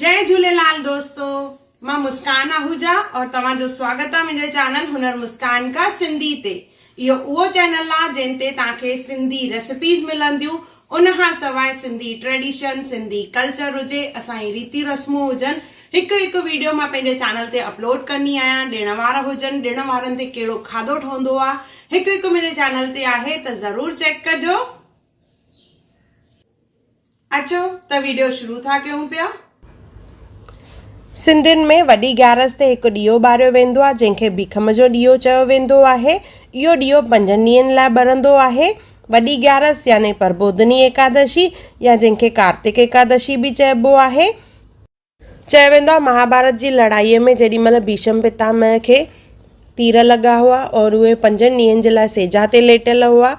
جي جهوليلال دوستو مان مسڪان آهوجا اور توهان جو سواگت آ منهنجي چينل هنر مسڪان کا سنڌي تي اهو اهو چينل آ جنهن تي توهان کي سنڌي ريسپيز ملنديون ان کان سواء سنڌي ٽريڊيشن سنڌي ڪلچر هجي اسان جي ريتيون رسمون هجن هڪ هڪ ويڊيو مان پنهنجي چينل تي اپلوڊ ڪندي آهيان ڏڻ وار هجن ڏڻ وارن تي ڪهڙو کاڌو ٺهندو آ هڪ هڪ منهنجي چينل تي آهي ته ضرور چيڪ ڪجو اچو ته ويڊيو شروع ٿا ڪيون پيا. سنڌين ۾ وڏي گيارس تي هڪ ڏيئو ٻاريو ويندو آهي جنهن کي ڀيکم جو ڏيئو چيو ويندو آهي. اهو ڏيئو پنجن ڏينهن لاء ٻرندو آهي. وڏي گيارس يعني پربوڌني ايڪادشي يا جنهن کي ڪارتڪ ايڪادشي به چئبو آهي. چيو ويندو آهي مهاڀارت جي لڙائيء ۾ جيڏي مهل ڀيشم پتامه کي تير لڳا هئا اور اهي پنجن ڏينهن جي لاء سيجا تي ليٽيل هئا.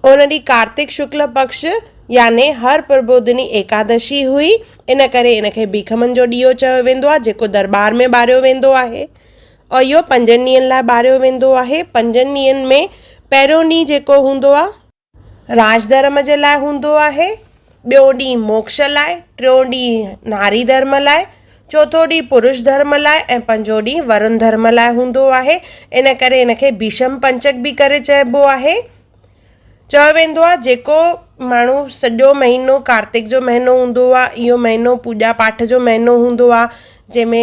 ان ڏينهن ڪارتڪ شڪل پڪش يعني هر پربوڌني ايڪادشي هئي، ان ڪري ان کي ڀيکمن جو ڏيئو چيو ويندو آهي، جيڪو درٻار ۾ ٻاريو ويندو آهي. اهو پنجن ڏينهن لاء ٻاريو ويندو آهي. پنجن ڏينهن ۾ پهريون ڏينهن جيڪو هوندو آهي. راج ڌرم جي لاء هوندو آهي. ٻيو ڏينهن موڪش لاء، ٽيون ڏينهن ناري ڌرم لاء، چوٿون ڏينهن پروش ڌرم لاء ۽ پنجون ڏينهن ورن ڌرم لاء هوندو آهي. ان ڪري هن کي ڀيشم پنچڪ به ڪري چئبو آهي. چيو ويندو آهي جيڪو ماڻهو سڄو مهينو ڪارتڪ جو مهينو هوندو آهي اهو مهينو پوڄا پاٺ جو مهينو هوندو آهي جنهن ۾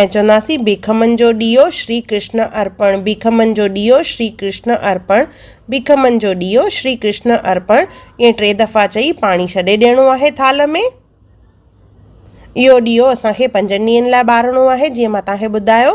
۽ چونداسين ڀيکمن جو ڏيئو شري ڪرشن ارپڻ، ڀيکمن جو ڏيئو شري ڪرشن ارپڻ، ڀيکمن جو ڏيئو شري ڪرشن ارپڻ ائين ٽي دفعا چئي پاڻي ڇڏي ڏيڻو آهي ٿالهه ۾. اهو ڏيئو اسان کي پنجن ڏينهن لاء ٻارڻو آهي جيئن مان توهان کي ٻڌايو.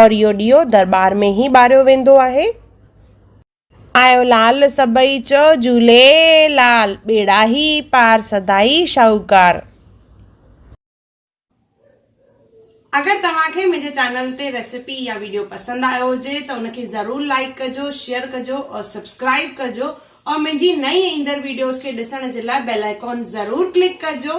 اور اهو ڏيئو درٻار ۾ ئي ٻاريو ويندو آهي. آيو لعل سڀئي چئو جهوليلال، ٻيڙا هي پار سدائي شاهوڪار. اگر توهان کي منهنجي چينل تي ريسيپي يا ويڊيو پسند آيو هجي ته ان کي ضرور لائيڪ ڪجو شيئر ڪجو اور سبسڪرائيب ڪجو اور منهنجي نئين ايندڙ ويڊيوز کي ڏسڻ جي لاء بيل آئيڪون ضرور ڪلڪ ڪجو